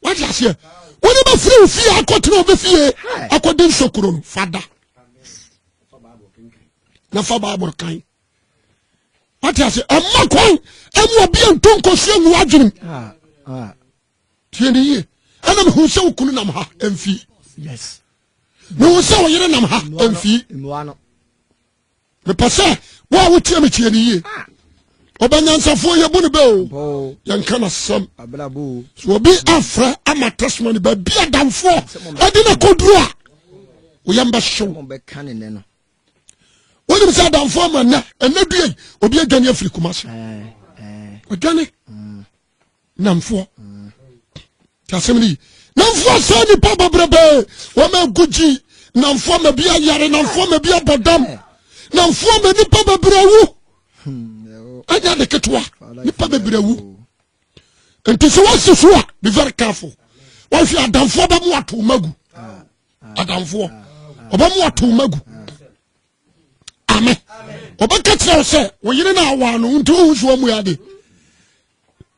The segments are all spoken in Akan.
wate aseɛ wone bɛfiri wo fie akɔtena ɔbɛ fie akɔde nsokuro no fada na fa bible kan wate ase ɛma kwan ɛmu obi a nto nkɔsi angu adwenem ah, ah. tie ne yie ɛna mehu sɛ wo kunu nam ha ɛmfie mehu sɛ wo yere nam ha ɛmfie mepɛ sɛ wo a wotie me tie ne yie ɔbɛnyansafoɔ yɛbu no bɛ o yɛnka no asɛm so obi afrɛ ama testimony baabi adamfoɔ ɛde no kɔduru a woyɛ mbɛhyew wonim sɛ adamfoɔ ma nnɛ ɛnɛ duei obi adwane afiri kuma se ɔdwane namfoɔ tasɛm no yi namfoɔ sɛ nipa babrɛbɛ wɔma agu gyi namfoɔ ma bi ayare namfoɔ ma bi abɔ dam namfoɔ ma nipa babrɛ wu ɛnyɛ de ketewa nipa babrɛ wu nti sɛ wɔsi so a be very careful wɔhwɛ adamfoɔ bɛmo ato ma gu adamfoɔ ɔbɛmo ato ma gu ame ɔbɛka kyerɛ wo sɛ wo yere no awaa no nti wohu so amu ade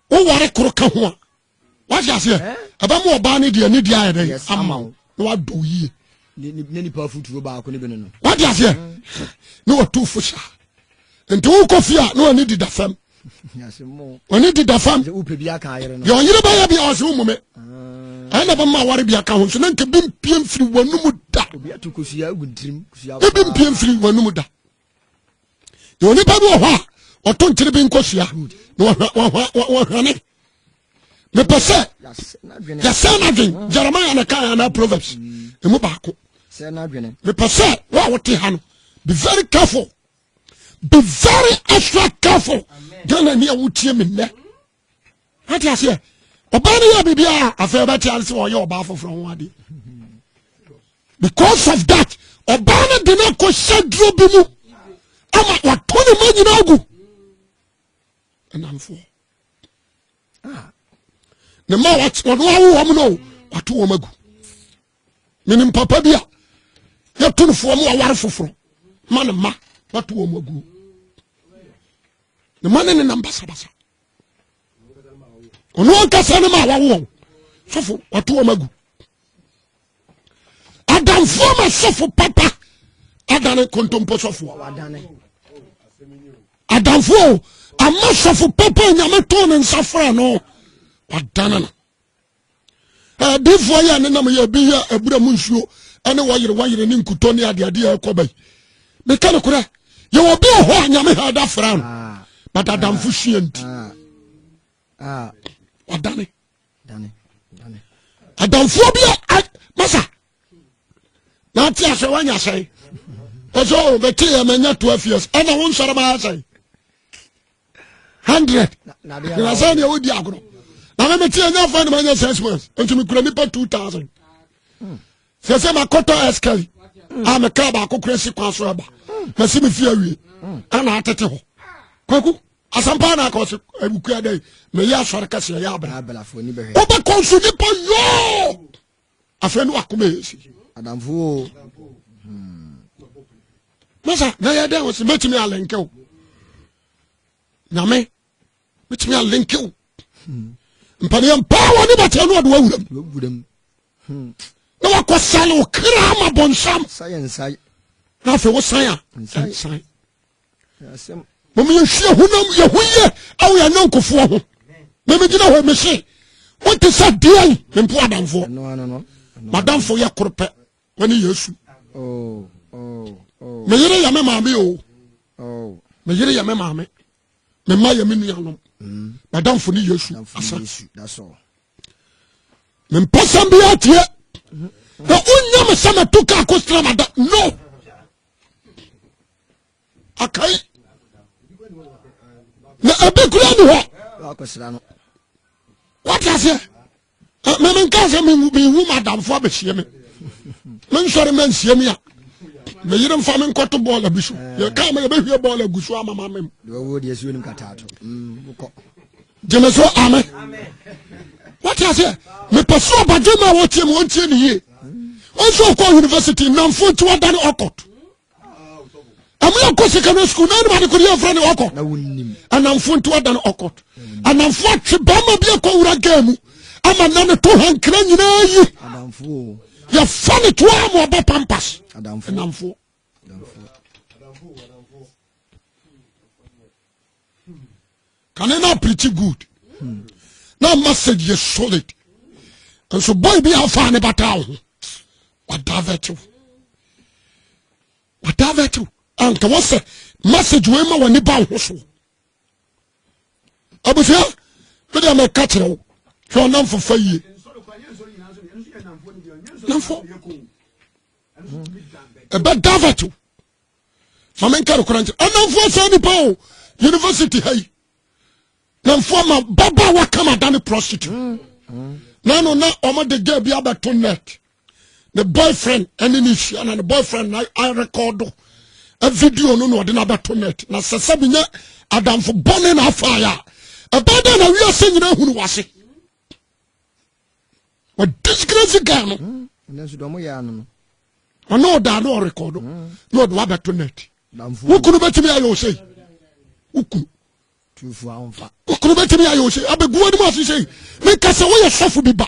woware koro ka ho a wahye aseɛ eh? ɛbɛma ɔbaa no deɛ ne deɛ ayɛ dɛn ama wo na wadɔ wo yie wade aseɛ na watu fo saa nti wokɔ fie a na wani dida fam ɔne deda fam deɛ ɔyere bɛyɛ bia ɔse wo mume ɛyɛ na bɛma aware bia ka ho nso na nka bi mpie mfiri w'anom da obi mpie mfiri w'anom da na onipa bi wɔ hɔ a ɔto nkyere bi nkɔsua na wɔhwane mepɛ sɛ yɛsɛ no adwen jeremia na kae anaa proverbs ɛmu baako mepɛ sɛ wo a wote ha no be very careful be very extra careful ghana ni a wotie me nnɛ ate aseɛ ɔbaa no yɛ biribi a afei ɔbɛte ase sɛ ɔyɛ ɔbaa foforɔ ho adeɛ because of that ɔbaa no de no akɔ hyɛ duro bi mu ama wato ne ma nyina agu ɛnamfoɔ ne ma ɔno awo wɔm no wato wɔm agu menim papa bi a yɛto no foɔ mu aware foforɔ ma ne ma wato wɔn aguo ne ma ne ne nam basabasa ɔno ankasa ne ma wawo wɔn sɔfo wato wɔn agu adamfoɔ ma sɔfo papa adane kontompo sɔfoɔ adamfoɔ ama sɔfo papa nyame too ne nsa frɛ no wadane no Adiifoɔ yɛ ne nam yɛ ebi yɛ abura mu nsuo ɛne wɔyere wɔyere ne nkutɔ ne adeade a ɛkɔ bɛyi. Meka no korɛ, yɛwɔ bi wɔ hɔ a nyame ha ɛda fra no, ah. but adamfo ah. sua nti. Ah. Wadane. Adamfoɔ bi a masa na ate asɛ wanya sɛn. Ɔsɛ o oh, bɛte yɛ manya 12 years ɛna wo nsɔre ma asɛn. hundred na sɛ deɛ wodi agorɔ na me mete ɛnya fa ne manya six months nti mekura nnipa two thousand sɛ sɛ makɔtɔ ɛskari a meka baako kora si kwan so aba masi me fie awie ana atete hɔ kwaku asampa na akɔ se awukua dɛ meyɛ asɔre kɛseɛ yɛ abra wobɛkɔ nso nipa yoo afei ne wakoma yɛ si adamfo o hmm. masa na yɛ dɛn wɔsi mɛtumi alɛnkɛ o nyame mɛtumi alɛnkɛ o hmm. mpaneɛ mpaa wɔ ne bɛtɛ no ɔde wawuram hmm. na wakɔ sale wo kra ma bɔnsam na afei wo san a nsan mom yɛhwie honam yɛ ho yie ɛwɔ yɛn nyɔnkofoɔ ho memegyina hɔ mese wote sɛ deɛn mempo adamfoɔ madamfo yɛ koro pɛ mane yesu oh, oh, oh. meyere yɛ me maame o meyere yɛ me maame mema yɛ me nuanom mm. madamfo ne yesu asa mempɛ sɛm biaa tie mm-hmm. na wonya me sɛ mato ka akɔstra mada no akai na ɛbi kura ni hɔ wate aseɛ mɛmɛ nka sɛ mehu madamfo abɛhyia me mensɔre ma nsia mi a meyere mfa me nkɔto bɔɔla bi so yɛka ma yɛbɛhwie bɔɔla gu so amama mem gyeme so ame wate aseɛ mepɛ so ɔbadwe ma wɔtie mu ɔntie ne yie ɔnso ɔkɔ university nnamfo nti wada ne ɔkɔt ɛmu yɛkɔ secondary school na anim adekode yɛmfrɛ ne ɔkɔt anamfo nti wada ne ɔkɔt anamfo atwe bɛrima bi akɔ wura gaa mu ama na ne to hankra nyinaa yi yɛfa ne toa ma ɔbɔ pampas anamfoɔ kane na preach good na message yɛ solid nso boy bi afa ne bata wo ho wadavɛte wo wadavɛte wo anka wɔsɛ message wei ma w'ani ba wo ho so abusua mede mɛka kyerɛ wo hwɛ ɔnamfo fa yie namfo ɛbɛ davɛto fa me nka nokora nkyerɛ ɛnamfoɔ saa nipa o university ha yi namfoɔ ma baba a waka ma da ne prostitute mm, mm. na no na ɔmode gya bi abɛto net ne boyfriend ɛne ne hyia na ne boyfriend na arekɔdo video no na ɔde no abɛto net na sɛ sɛ menyɛ adamfo bɔne na afaeɛ a ɛbɛɛ dɛ na wiase nyina hunu wase wɔ disgrace guy no hmm, ɔne ɔdaa ne ɔrekɔdo hmm. na ɔde wabɛto net wokunu bɛtumi ayɛ wo sei wokunu wokunu bɛtumi ayɛ wo sei abɛguwa no mu ase sei meka sɛ woyɛ sɔfo bi ba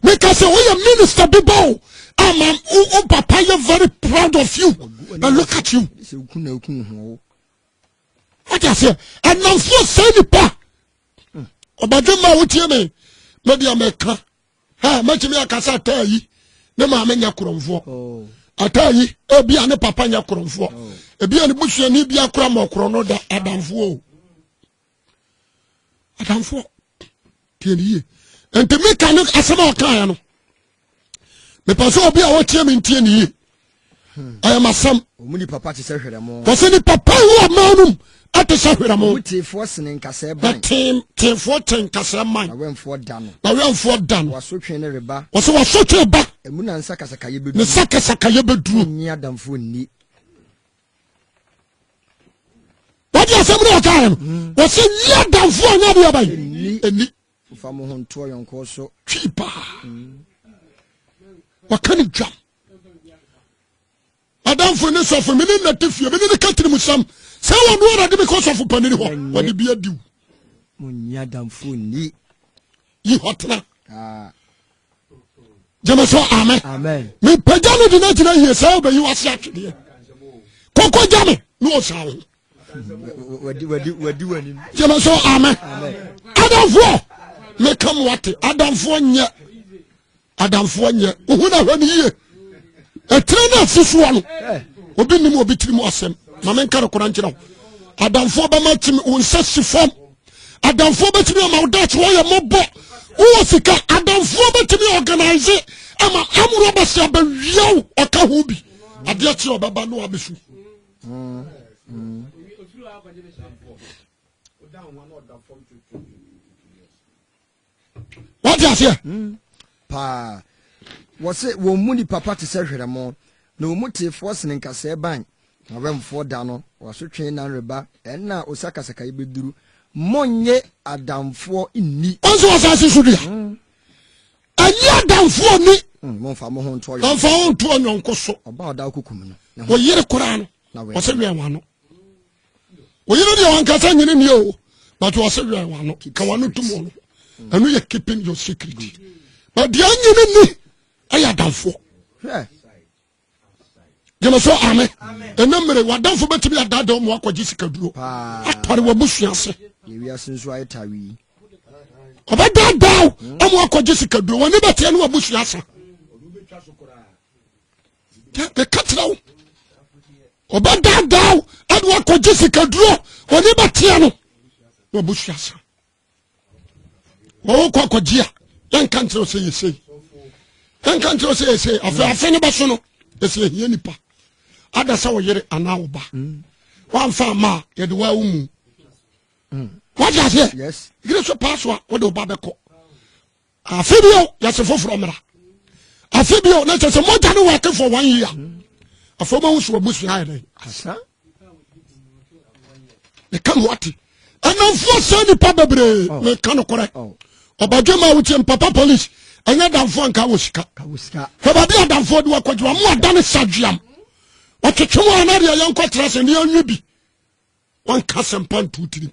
meka sɛ woyɛ minister bi ba o ama wo papa yɛ very proud of you na look at you wode aseɛ ɛnamfoɔ sɛ nipa ɔbadwemma a wotie me mɛdi a mɛka ha mɛtumi aka sɛ ataa yi ne maame nyɛ korɔmfoɔ oh. ataa yi ebi a ne papa nyɛ korɔmfoɔ oh. ebi a ne busuani bi akora ma ɔkorɔ no da adamfoɔ o adamfoɔ tie ne yie nti mika ne asɛm a ɔkaeɛ no mepɛ sɛ obi a wɔtie me ntie ne yie ɛyɛ masɛm wɔsɛ ne papa wo ɔma nom ɛte sɛ hwerɛmo teefoɔ kyɛn nkasɛɛ man na wɛmfoɔ da no wɔso twe ne reba wɔsɛ wɔso twe ba ɛmu na nsa kasakayɛ bɛduru ne nsa kasakayɛ bɛduru nyi adamfoɔ nni wɔde asɛm no ɔkaɛ no wɔsɛ nyi adamfoɔ nyɛ deɛ bɛyi ɛni Mfa mo ho nto ɔyɔnkoɔ so. Twi paa. Wɔka ne dwam. Adamfo ne sɔfo me ne nnate fie me ne ne ka tirim sam sɛ wɔn no ara de me kɔ sɔfo panini hɔ wɔde bi adiw. Mo nya damfo ni. Yi hɔ tena. Ah. gyeme so amen mepagya no de no agyina yie sɛ wobɛyi wase atwedeɛ kɔkɔ gya me na ɔsaa wo gyeme so amen adamfoɔ meka mo ate adamfoɔ nyɛ adamfoɔ nyɛ wohu no ahwɛ no yie ɛtire no asi soɔ no obi nim obi tiri mu asɛm ma menka no kora nkyerɛ wo adamfoɔ bɛma kyimi wo nsa si fam adamfoɔ bɛtumi ama wo daakye wɔyɛ mmɔbɔ wowɔ sika adamfoɔ bɛtumi organise ama amorɔ bɛsɛ abɛwia wo ɔka ho bi adeɛ kyeɛ ɔbɛba no abɛsu wɔte aseɛ hmm. paa wɔ se wɔn mu ni papa te sɛ hwerɛmo na wɔn mu teefoɔ sene nkasɛɛ ban na wɛmfoɔ da no wɔasotwe nan reba ɛnna a osakasaka yi bɛduru monnye adamfoɔ nni ɔnso wɔ asase so dua hmm. ɛnyɛ adamfoɔ ni hmm, mɔmfa mo ho ntoɔ yɔnko mɔmfa ho ntoɔ yɔnko so ɔba ɔda kokum no ɔyere koraa no ɔsɛ wɛn wano woyere deɛ wankasa nyene nie o but wɔse wɛn wano ka wano tom ɔno ɛno yɛ keeping your secret but deɛ nyene ni ɛyɛ adamfoɔ gyeme so ame ɛna mmere wadamfo bɛtumi adada ɔmo akɔgye sikaduro atare wabusua ase ɔbɛdaadaa ɔmo akɔgye sikaduro wɔne bɛteɛ ne wabusua asa meka kyerɛ wo ɔbɛdaadaa wo ɛne wakɔgye sikaduro ɔne bɛteɛ no na ɔbɛsua sa wɔwɔ kɔ akɔgye a yɛnka nkyerɛ wo sɛ yɛsei yɛnka nkyerɛ wo sɛ yɛsei afei mm. afe no bɛso no ɛsɛ ɛhia nipa ada sɛ wo yere anaa wo ba mm. woamfa ama a yɛde waa wo mu mm. wagye aseɛ yere so paa so a wode wo ba bɛkɔ afe bio yɛse foforɔ mmra afe bio na kyɛ sɛ mogya no wɔke for one year afei ma wo so abusua ayɛ dɛn asa meka ho ate ɛnamfoɔ sɛ nnipa bebree oh. meka nokorɛ oh. ɔbadwama a wotie mpapa police ɛnyɛ damfoɔ nka wɔ sika fɛbaabi a damfoɔ de wakɔdwuma mo ada ne sadweam ɔtwetwe mu anadeɛ yɛnkɔtra sɛ ne anwe bi wanka asɛmpa nto tirim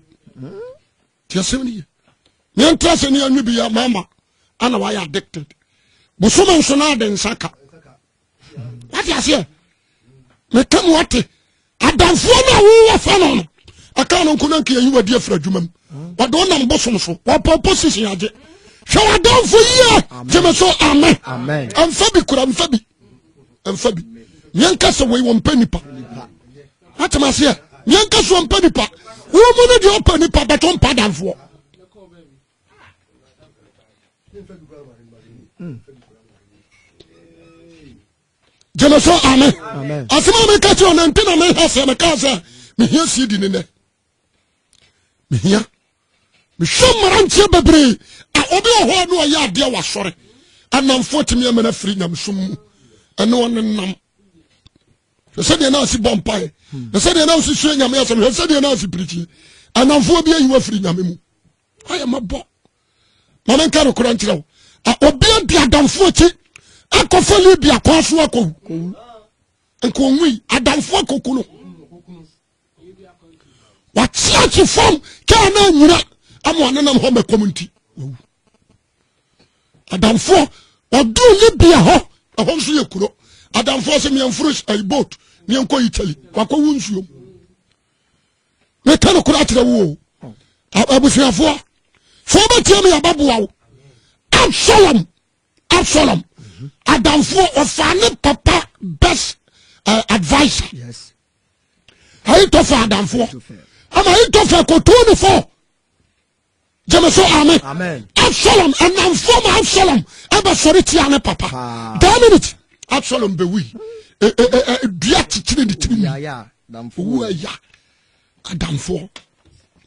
nti asɛm no ye yɛntra sɛ ne anwe bi yɛ mama ana wayɛ addicted bosom nso no ade nsa ka wate aseɛ meka mu ate adamfoɔ no a wowɔ fa no no ɛka no nko no nka yɛyi wadi afiri adwuma mu wɔde wo nam bosom so wɔpɔ position agye hwɛ wadamfo yie gyeme so amen ɛmfa bi kura mfa bi ɛmfa bi yɛnka sɛ wei wɔmpɛ nipa atem aseɛ yɛnka sɛ wɔmpɛ nipa wo mu no deɛ ɔpɛ nipa bɛtɔ mpa danfoɔ gyeme so ame asɛm a meka kyerɛ ɔnante na meha sɛ mekaa sɛ mehia sii di ne nɛ mehia mehwɛ mmeranteɛ bebree a obi wɔ hɔ a ne ɔyɛ adeɛ wɔ asɔre anamfoɔ tumi ama no afiri nyamesom mu ɛne ɔne nam hwɛ sɛdeɛ na asi bɔ mpae hwɛ sɛdeɛ na asi sua nyame asɛm hwɛ sɛdeɛ na asi pirikyi anamfoɔ bi ayi wafiri nyame mu ayɛ mabɔ ma menka no kora nkyerɛ wo obi adi adamfoɔ akyi akɔfa libia kɔa so akɔwu nka ɔnwui adamfoɔ akɔku no wakyeakye fam kaa no anyina ama ɔnenam hɔ mɛkɔm nti wawu adamfoɔ ɔduu libya hɔ ɛhɔ nso yɛ kuro adamfoɔ sɛ meɛmforo eh, boat meɛnkɔ italy wakɔwo nsuom meka no kora akyerɛ wo o abusuafoɔ fo bɛtia me yɛbɛboa wo absalom absalom adamfoɔ ɔfaa ne papa best uh, advisor yes. ahitofel adamfoɔ ama ahitofel kɔtoo no fo gyeme so ame absalom ɛnamfoɔ ma absalom ɛbɛsɔre tia ne papa daa minute absalom bɛwui e, e, e, dua kyekyere ne tiri owu aya adamfoɔ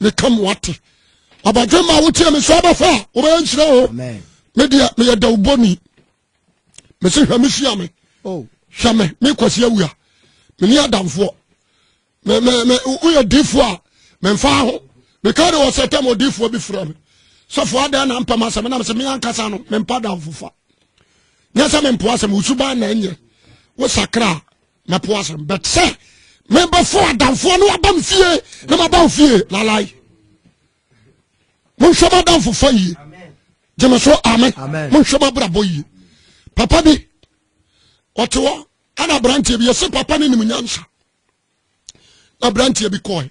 ne ka mo ate ɔbɛdwe ma wotie me sɛ ɔbɛfa a wobɛyɛ nhyerɛ o medeɛ meyɛ dawubɔni mese hwɛ me hyia me oh. hwɛ me me kwasi awia me ni adamfoɔ me me me woyɛ difoɔ a me nfa ho me ka de wɔ sɛ tɛm odifoɔ bi fira me sɔfo adan na mpɛm asɛm na me se me ankasa no me mpa damfofa nyɛ sɛ me mpo asɛm wosuban na ɛnyɛ wo sakra na po asɛm but sɛ mebɛfo adamfoɔ no aba me fie na maba wo fie lalae monhwɛ mo adamfofa yie gyeme so ame monhwɛ mo abrabɔ yie papa bi ɔte hɔ ana aberanteɛ bi yɛse papa no nim nyansa na aberanteɛ bi kɔe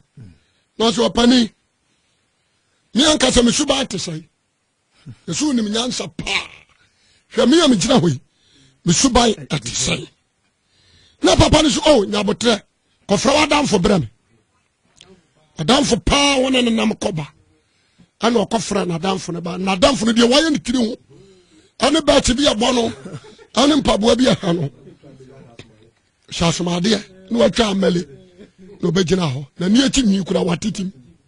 nanso ɔpani me ankasa mesu baa te sɛe Yesu wonim nyansa paa hwɛ me a megyina hɔ yi me suban ɛte sɛn na papa no so o oh, nyabotrɛ kɔfrɛ w'adamfo berɛ me adamfo paa wo ne nenam kɔba ɛna ɔkɔfrɛ n'adamfo no ba n'adamfo no deɛ wayɛ ne tiri ho ɛne bɛɛkye bi ɛbɔ no ɛne mpaboa bi ɛha no hyɛ asomadeɛ na watwa amɛle na ɔbɛgyina hɔ na ni akyi nwi kura watetim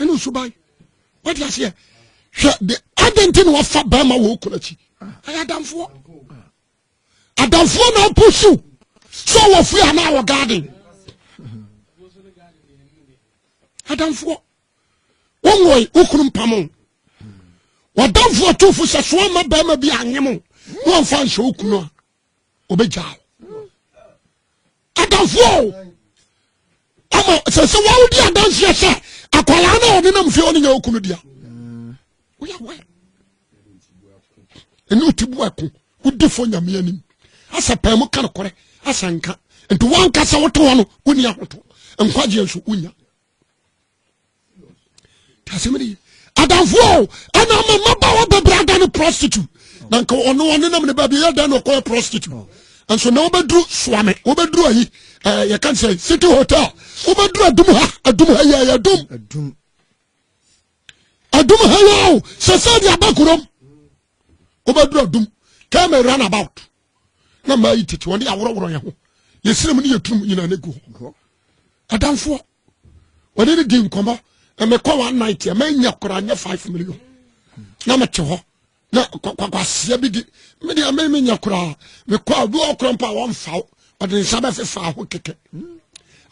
ɛne nsuban wode aseɛ hwɛ de adɛn nti na wafa bɛrima wɔ okunu akyi ɛyɛ adamfoɔ adamfoɔ na apusu sɛ ɔwɔ fie anaa wɔ garden adamfoɔ wonwoe wo kunu mpamo wadamfoɔ tofo sɛ soa ma bɛrima bi anyem na ɔmfa nhyɛ wo kunu a ɔbɛgyaa wo Adamfoɔ o, ama sɛ sɛ wɔn di adanseɛ sɛ akwadaa no a ɔde nam fie ɔne nyɛ okunu dea. Woyɛ wɛ. Ɛne ɔti bu ɛko, wodi fo nyame anim. Asɛ pɛɛ mu ka nokorɛ, asɛ nka. Nti wɔnka sɛ wote hɔ no, wonni ahoto. Nkwagyeɛ nso, wonya. asɛm ne ye adamfoɔ ɛna ama mmabaawa bɛbrɛ ada ne prostitute na nka ɔno ɔne nam ne baabi yɛ dan na ɔkɔyɛ prostitute nso na wobɛduru soame wobɛduru ayi eh, yɛka sɛ city hotel wobɛduru adum ha adum ha yɛ yɛ adum adum ha yɛ o sɛ sɛ de aba kurom wobɛduru adum kɛmɛ run about na maa yi tete wɔn de aworɔworɔ yɛn ho yɛsrɛ mu ne yɛtunu mu nyinaa no gu hɔ adamfoɔ wɔde ne di nkɔmmɔ na mekɔ one night a manya koraa nyɛ five million na mete hɔ na kwakwaseɛ bi di mede ame menya koraa mekɔ a obi ɔkorɔ mpo a wɔmfa wo ɔde nsa bɛfefa ho kɛkɛ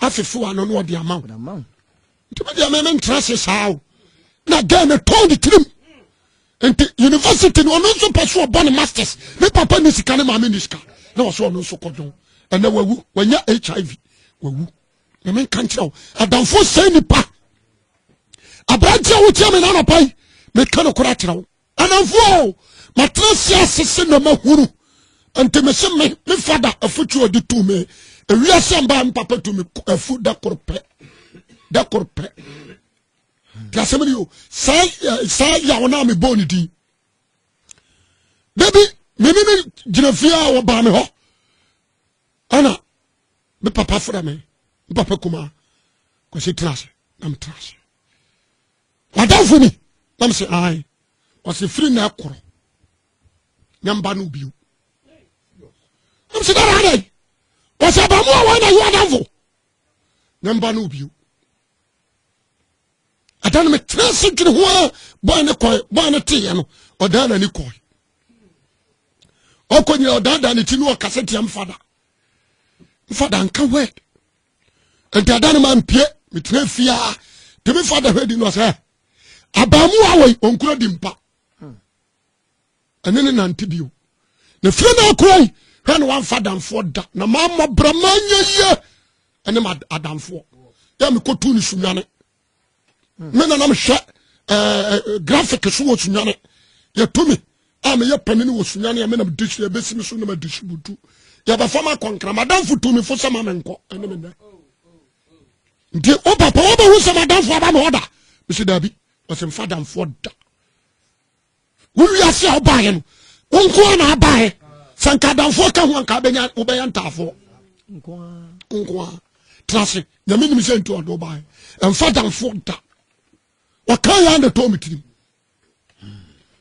afefe wa no na ɔde ama wo nti me deɛ me mentra se saa o na gɛn no tɔn ne tirim nti university no ɔno nso pɛ so ɔbɔ ne masters ne papa ne sika ne maame ne sika na ɔsɛ ɔno nso kɔdwon ɛnɛ wawu wanya hiv wawu na menka nkyerɛ wo adamfo sɛ nipa aberanteɛ wotia me na anapa yi meka no kora kyerɛ wo Anamfoɔ o, matena aseɛ asese na mahunu. Nti mese me, me fada afutuo ɔde tu me. Ewiase mbaa me papa tu me afu da koro pɛ. Da koro pɛ. Nti asɛm ni o, saa eh, saa yaw no a mebɔɔ ne din. Da bi, me ne ne gyina fie a wɔbaa me hɔ. Ana me papa fada me, me papa kumaa. Kwasi tena ase, na metena ase. Wadamfo ni? Na me se, ae. Ɔse, firi na ɛkorɔ. Na mba no bio. Na me se, dada adɛn? Ɔse, abamu a wɔn na yi wadamfo. Na mba no bio. Ɛda no metra se dwene ho a bɔn ne kɔe, bɔn ne teeɛ no, ɔdaa n'ani kɔe. Ɔkɔ nyina ɔdaadaa ne ti no ɔkasa tia mfada. Mfada nka word. nti ada no ma mpie metena fie a de me fa da hwɛ di no sɛ abaamu a wɔyi ɔnkura di mpa ɛne ne nante bio na fie no akura yi hwɛ no wamfa adamfoɔ da na mammɔ brɛ manyɛ yie ɛne ma adamfoɔ yɛ mekɔtu no sunwane me na na mehwɛ ɛɛ graphic so wɔ sunyane yɛto me a meyɛ panini wɔ sunyane a me na mede hyɛ ɛbɛsi me so na mede hyɛ butu yɛbɛfa ma kɔnkra madamfo tu me fo sɛ ma me nkɔ ɛne me nnɛ nti wo papa wobɛhu sɛ madamfo aba me ɔda mesi daabi ɔsɛ mfa damfoɔ da Wo wiase a wobaeɛ no, wo nko ara na abaeɛ. Sɛ nka adamfoɔ ka ho anka bɛnya wobɛyɛ ntaafoɔ. Nko ara. Tena ase. Nyame nim sɛ nti ɔde wobaeɛ. Ɛmfa adamfoɔ da. Ɔka yɛ na ɛtɔ me tirim.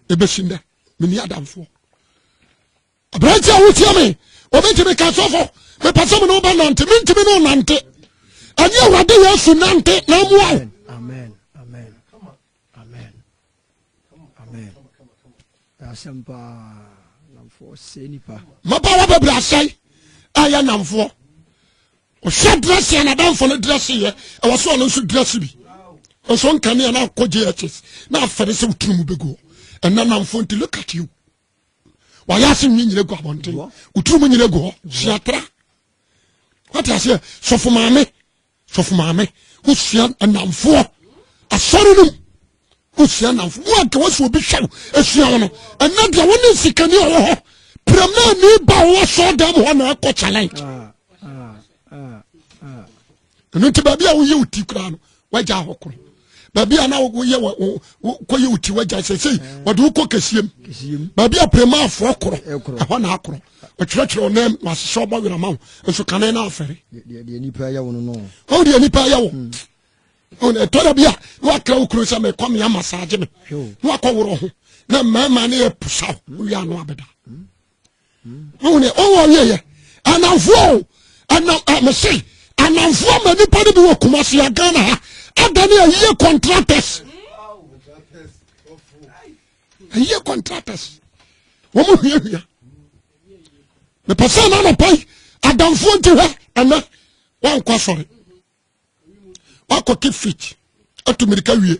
Ɛbɛsi nnɛ, menni adamfoɔ. Aberante a wotia me, wɔbɛtumi ka sɔfo, mepɛ sɛ me ne woba nante, mentumi ne wo nante. Ɛnyɛ Awurade Yesu nante na mmoa wo. Amen amen asɛm paa namfoɔ sɛ nipa. mapa wa bɛbrɛ asɛe ɛyɛ namfoɔ ɔhwɛ dírɛsi na danfo no dírɛsi yɛ ɛwɔ so ɔno nso dírɛsi bi nso nkanea na akɔ jhs na afɛre sɛ woturu mu bɛgu hɔ ɛnna namfoɔ nti look at you wayɛ ase nwi nyina gu abɔnten woturu mu nyina gu hɔ siatra wate aseɛ sɔfo maame sɔfo maame wosua nnamfoɔ asɔre no mu wosua nnamfo wo anka wasi obi hwɛ wo asua wo no ɛnɛ deɛ wo ne nsikani a ɔwɔ hɔ piramani ba ɔwɔ asɔre dan mu hɔ na ɛkɔ challenge ah, ah, ah, ɛno nti baabi a woyɛ wo ti koraa no wagya hɔ koro baabi a na woyɛ kɔyɛ wo ti wagya sɛsei mm. wɔde wokɔ kɛsiem baabi a prɛma afoɔ korɔ ɛhɔ na akorɔ ɔkyerɛkyerɛ ɔnam na asesɛ ɔbɔ werɛ ma wo nso kane no afɛre ɔwo deɛ nipa yɛ wo mm. ɛtɔ da bi a na wakra wo kuro sɛ mekɔ mea masaagye me na wakɔ worɔ ho na mmarima ne yɛ posaw wowie ano abɛda mm. ɔwɔ ɔwɔ yɛ yɛ ananfoɔ ɛnam ɛmɛsɛ ananfoɔ ma nipa de bi wɔ kumasi agana ha adani ayie contractors ayie contractors wɔn mu hia hia mepɛ sɛ ɛna anapa yi adanfoɔ nti hɛ ɛnɛ wankɔ asɔre wakɔ keep fit atu mirika wie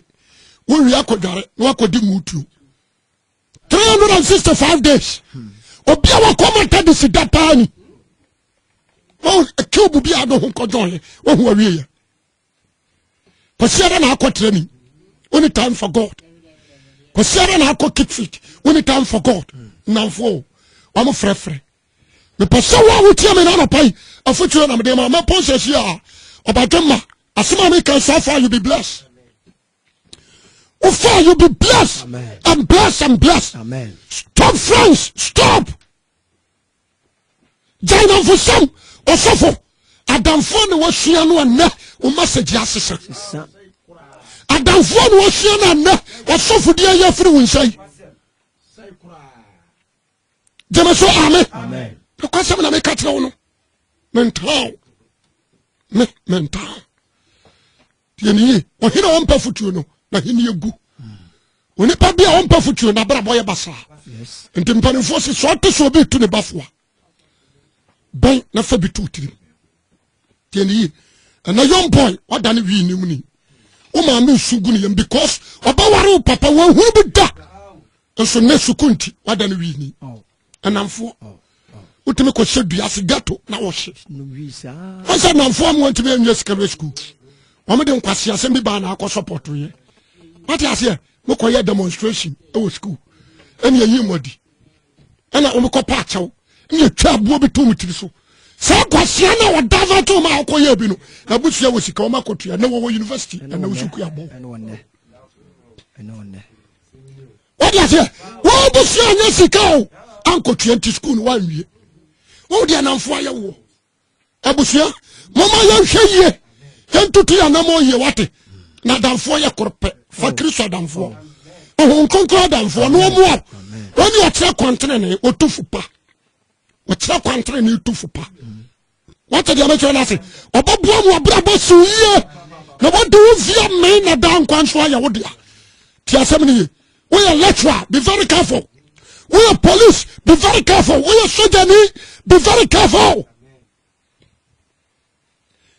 wowie akɔdware na wakɔdi mutuo 365 days obi a wakɔ ma tade si da paa ni wɔn cube bi a do ho nkɔjɔn yɛ wɔn ho awie yɛ kɔsiara na akɔ training only time for god kɔsiara na akɔ keep fit only time for god nnamfoɔ wɔn frɛfrɛ mepɛ sɛ wo a wotia me no anɔpa yi afotuo na mede ma mɛpɔn sɛ si a ɔbadwe ma asɛm a meka saa fa you be blessed Ufa, you be blessed Amen. and blessed and blessed. Amen. Stop friends, stop. Jaina Fusam, Osofo, Adamfo na wasua no ɛnɛ, o message asesa. Adamfo na wasua no ɛnɛ, Osofo di ayɛ firi wo nsa yi. Gyeme so ame. Nokwasɛm na meka kyerɛ wo no. Mentaa wo. Me, mentaa wo. Tie ne yie. Ɔhene a ɔmpɛ fotuo no, n'ahenni agu. Onipa bi a ɔmpɛ fotuo no, abrabɔ yɛ basaa. Nti mpanimfoɔ se, sɛ ɔte sɛ obi retu ne ba foa, bɛn na fa bi to tirim. Tie ne yie. Ɛnɛ young boy, wada ne wii nim ni. Wo maame nsu gu ne yam because ɔbɛware wo papa, wɔahunu bi da. Nso nnɛ sukuu nti, wada ne wii ni. ɛnamfoɔ wotumi kɔhyɛ dua ase gato na wɔhye ɔsɛ namfoɔ mu wɔntumi anwie secondary school wɔmde nkwase asɛm bi baa na akɔ sɔpɔtoyɛ wate aseɛ mokɔyɛ demonstration ɛwɔ school ɛne ɛyi mmɔdi ɛna wɔmekɔ pa akyɛw ne ɛtwa aboɔ bi to mu tiri so saa kwasia no a wɔda va to ma a wɔkɔyɛ bi no abusua wɔ sika wɔma kɔtua ne wɔwɔ university ɛna wo so kuabɔ wode aseɛ wobusua anya sika o ankɔtua nti sukuu no woanwie wode anamfo ayɛ woɔ abusua moma yɛnhwɛ yie yɛntoto yɛ anamɔ yie wate na adamfoɔ yɛ koro pɛ fa oh. kristo adamfoɔ ohun nkonkron adamfoɔ na ɔmo a wɔne ɔkyerɛ kwantere ne ɔtufo pa ɔkyerɛ kwantere ne ɔtufo pa wate deɛ mɛkyerɛ no ase ɔbɛboa mu abrabɔ siw yie na wɔde wo via mmɛn na daa nkwa nso ayɛ wo dea ti asɛm no ye woyɛ lecturer be very careful woyɛ police be very careful woyɛ sojani be very careful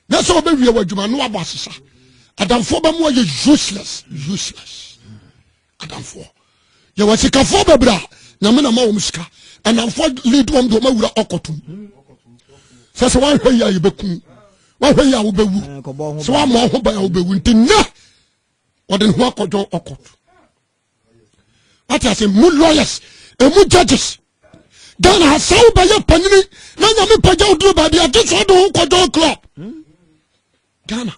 na sɛ wobɛwie wɔ adwuma no wabɔ asesa adamfoɔ bɛmu ayɛ useless useless adamfoɔ yɛwɔ sikafoɔ bebree a nyame na ma wɔn sika ɛnamfoɔ lead wɔn de wɔn awura ɔkɔtum sɛ sɛ wɔahwɛ yi a yɛbɛkum wɔahwɛ yi a wobɛwu sɛ wɔama wɔn ho ban a wobɛwu nti nnɛ wɔde ne ho akɔdwɔn ɔkɔt wate ase mu lawyers ɛmu judges ghana ha sɛ wobɛyɛ panyini na nyame pagya woduro baabi agye sɛ ɔde ho kɔdwɔn club Ghana.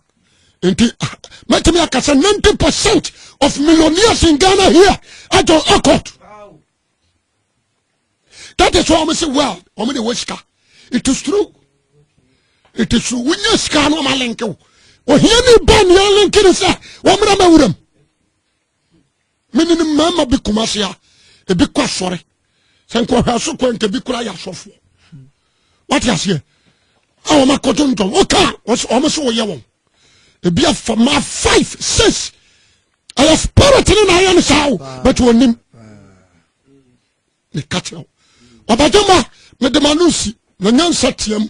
Nti ah, mɛtumi aka sɛ 90 percent of millionaires in Ghana here adɔn akɔt. That is why wɔn sɛ well wɔn de wɔ sika. It is true. It is true. Wonya sika na wɔn alenke wo. Ohia ni ba nea alenke ni sɛ wɔn mmerɛ mɛ wuram. mene no mmarima bi koma se a ebi kɔ asɔre sɛ nkɔhwɛ so kɔ nka bi kora yɛ asɔfoɔ wate aseɛ a wɔn akɔto ntɔn woka wɔn so wɔyɛ wɔn ebi afa ma five six ɛyɛ spirit ne na ayɛ no saa o but wɔnim meka kyerɛ wo ɔbagye ma mede ma no nsi na nyansa team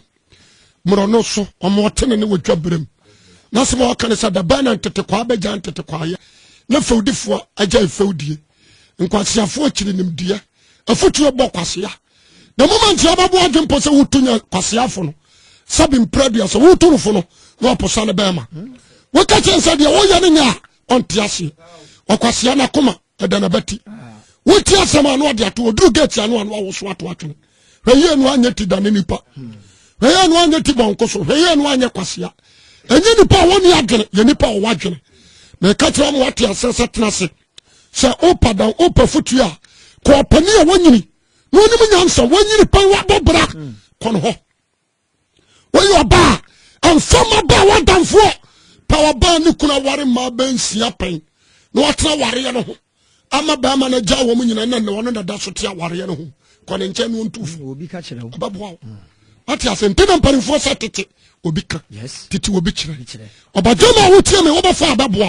mmorɔ no so ɔma ɔtene ne wɔdwa berɛm na sɛ ma ɔka ne sɛ dabɛn na ntetekwaa bɛgya ntetekwaayɛ na fɛwdifoɔ agya fɛwdie nkwaseafoɔ akyiri nimdeɛ afotuo bɔ kwasea na mu ma ntia bɛboa adwe mpo sɛ woto nya kwaseafo no sɛ bempira dua sɛ woto no fo no na ɔposa no bɛɛma woka kyɛn sɛ deɛ woyɛ no nyɛ a ɔnte aseɛ ɔkwasea no akoma ɛda na bɛte woti asɛm ano ɔde ato ɔduru gate ano ano awoso ato atwene hwɛyie no anyɛ ti dane nipa hwɛyie no anyɛ ti bɔnko so hwɛyie no anyɛ kwasea ɛnyɛ nipa a wɔne adwene yɛ nipa a wɔwɔ adwene na ɛka kyerɛ wɔn ate asɛ sɛ tena ase sɛ wopa dan wopa fotuo a kɔɔpani a wɔnyini na ɔnim nyansa wɔnyini pɛn wabɔ bra kɔn hɔ woyɛ ɔbaa ɛmfa ma baa w'adamfoɔ pɛ ɔbaa ne kunu aware mmaa bɛnsia pɛn na watena awareɛ no ho ama bɛrima no agya wɔn nyina na ɔno na da so te awareɛ no ho kɔ ne nkyɛn no ɔntu fo ɛbɛboa wo mm. wate ase nti na mpanimfoɔ sɛ tete obi ka tete obi kyerɛ ɔbadwama a wotie me wobɛfa a bɛboa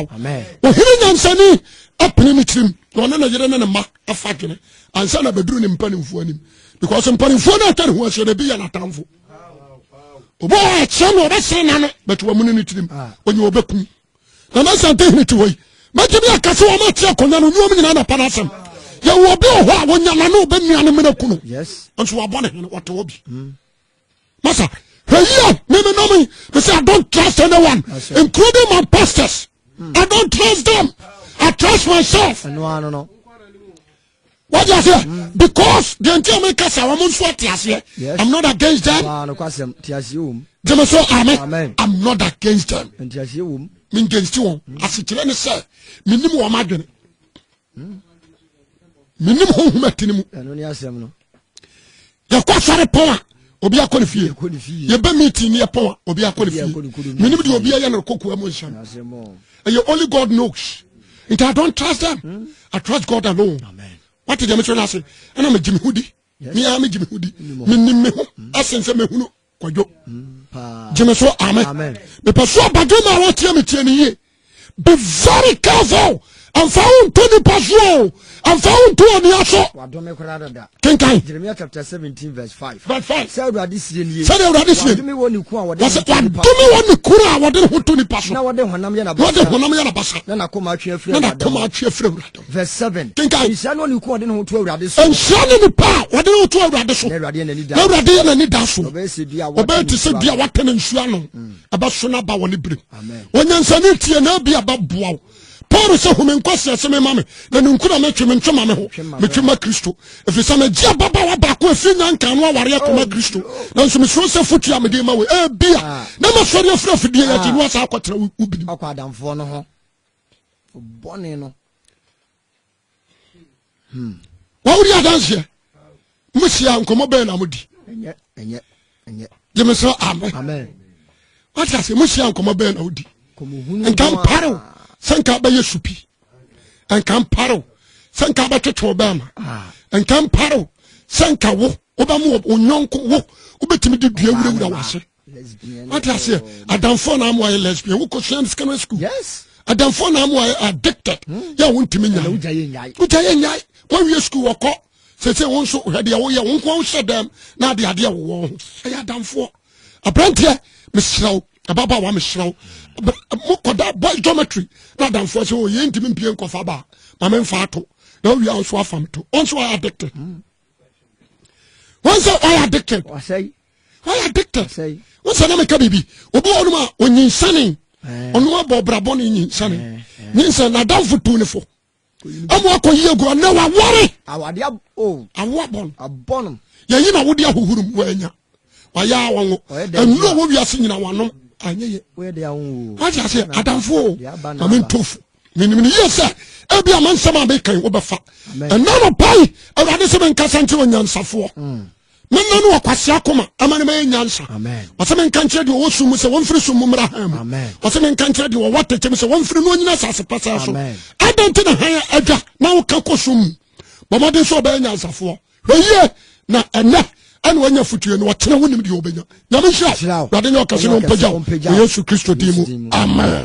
wo ɔhene nyansani apene ne tirim na ɔne ne yere ne ne mma afa dwene ansa na bɛduru ne mpanimfoɔ anim because mpanimfoɔ no atwa ne ho ahyɛ no bi yɛ n'atamfo obi wɔ akyerɛ no ɔbɛsere na no but wamuni ne tirim ah. ɔnyɛ ɔbɛkum na na sante hene te hɔ yi mɛtumi aka sɛ wɔma akyerɛ akonnwa no ɔnyuom nyinaa na pa no asɛm yɛwɔ bi wɔ hɔ a wɔnya na no ɔbɛnua no mena ku no nso wabɔ ne hene ɔte hɔ bi mm. masa hwɛ yi a meme nam yi me say i don't trust anyone including my pastors hmm. i don't trust them i trust myself wọ́n di aseɛ hmm. because the nti a mi kasa wɔn nso ati aseɛ i'm not against them jẹ́mi sọ amen i'm not against them mi n gẹ̀nsì wọn asekyerẹ́ ni sẹ́ mi ni mu wọn adwene. hmm? menim honhom ati no mu yɛkɔ asɔre pɔn a obi akɔ ne fie yɛbɛ meeting ne yɛpɔn a obi akɔ ne fie menim deɛ obi ayɛ no kokoa mu nhyɛm ɛyɛ only god knows nti i don't trust them hmm? i trust god alone wate deɛ mesɛ no ase ɛna megye me ho di meaa megye me ho di menim me ho ɛsen sɛ mehunu kwadwo gyeme so ame mepɛ so abadwo ma wɔteɛ me teɛ no yie be very careful ɛmfa wo nto nipa so o ɛmfa wo nto onua so kenkan sɛdeɛ awurade sie nie wadome wɔ ne kunu a wɔde ne ho to nipa so na wɔde honam yɛ nabasa na nakoma atwe afiri awurade Verse seven. Kenkan. Nhyira ne onipa a ɔde ne ho to Awurade so. Nhyira ne nipa a ɔde ne ho to Awurade so. Na Awurade yɛ n'ani da. Na Awurade yɛ n'ani da so. Ɔbɛyɛ sɛ dua a wɔatena Ɔbɛyɛ te sɛ nsuo dua a ano. wɔatena nsuo ano. Mm. Ɛbɛso n'aba wɔ ne berem. Amen. Onyansani tie na ebi ɛbɛboa wo. Paul sɛ home nkwasi ase mema me na ne nkura metwe me ntwe ma me ho Metwe ma me metwe ho. ma Kristo ɛfiri sɛ megye ababaawa baako a ɛfiri nya nka no awareɛ Oh, kɔma Kristo no. nanso mesuro sɛ fotua a mede ma wei ebia Ah. na masɔre afiri afidie yɛ akyi Ah. no asa akɔtena wo- wo binom Ɔkɔ adamfoɔ no ho. Bɔne no. Hmm. Wọ́n wúdi adanseɛ. Mo si a nkɔmɔ bɛyɛ na mo di. Ɛnyɛ ɛnyɛ ɛnyɛ. Jẹ́mi sọ amen. Amen. Wọ́n ti ase mo si a nkɔmɔ bɛyɛ na mo di. Nka mpare o sɛ nka bɛyɛ supi. Nka mpare o sɛ nka bɛtwetwe o bɛɛ ma. Ah. Nka mpare o sɛ nka wo wobɛmo wo nyɔnko wo wobɛtumi de dua wurawura wɔ ase. wate aseɛ adamfoɔ na ama wayɛ lesbian wokɔ sua no secondary school yes adamfoɔ na ama wayɛ addicted hmm. yɛ a wontumi nya wogya yɛ nyae wogya yɛ nyae wawie school wɔkɔ sɛsɛ wo nso hwɛ deɛ woyɛ wo nkoa wohyɛ dɛm na ade adeɛ wowɔ ho ɛyɛ adamfoɔ aberanteɛ meserɛ wo ɛbaba wa meserɛ wo mokɔda boy geometry na adamfoɔ sɛ ɔyɛ oh, ntimi mpie nkɔfa baa ma memfa ato na wowie a nso afa me to ɔnso ayɛ addicted hmm. wọn sɛ ɔyɛ addicted ɔyɛ addicted wọn sɛ nam ɛka biribi obi wɔ ɔnom a ɔnyinsane ɔnom abɔ ɔbrabɔ ne nyinsane nyinsane n'adanfo tu ne fo ɛmu akɔ yie gu ɔnɛ wawɔre awo abɔn yɛyi na wode ahohoro mu wɔanya wayɛ a wɔn ɛnu a wɔwiase nyina wɔnom anyɛ yɛ wɔde aseɛ adanfo o maame ntofo menim no yie sɛ ebia ma nsɛm a mekan wobɛfa ɛna no pai awurade sɛ menkasa nkyerɛ onyansafoɔ mm. menna no ɔkwasea koma ama no mayɛ nyansa ɔsɛ menka nkyerɛ deɛ ɔwɔ sum mu sɛ wɔmfiri sum mu mmra han mu ɔsɛ menka nkyerɛ deɛ wɔwɔ atɛkyɛ mu sɛ wɔmfiri no ɔnyina asase pasaa so adɛn nti na han adwa na woka kɔ sum mu bɔmmɔden sɛ ɔbɛyɛ nyansafoɔ hwɛyie na ɛnɛ ɛna wanya fotue no ɔkyena wonim deɛ ɔbɛnya nyame nhyira wade ne ɔkɛse no ɔmpagya wɔ yesu kristo din mu amen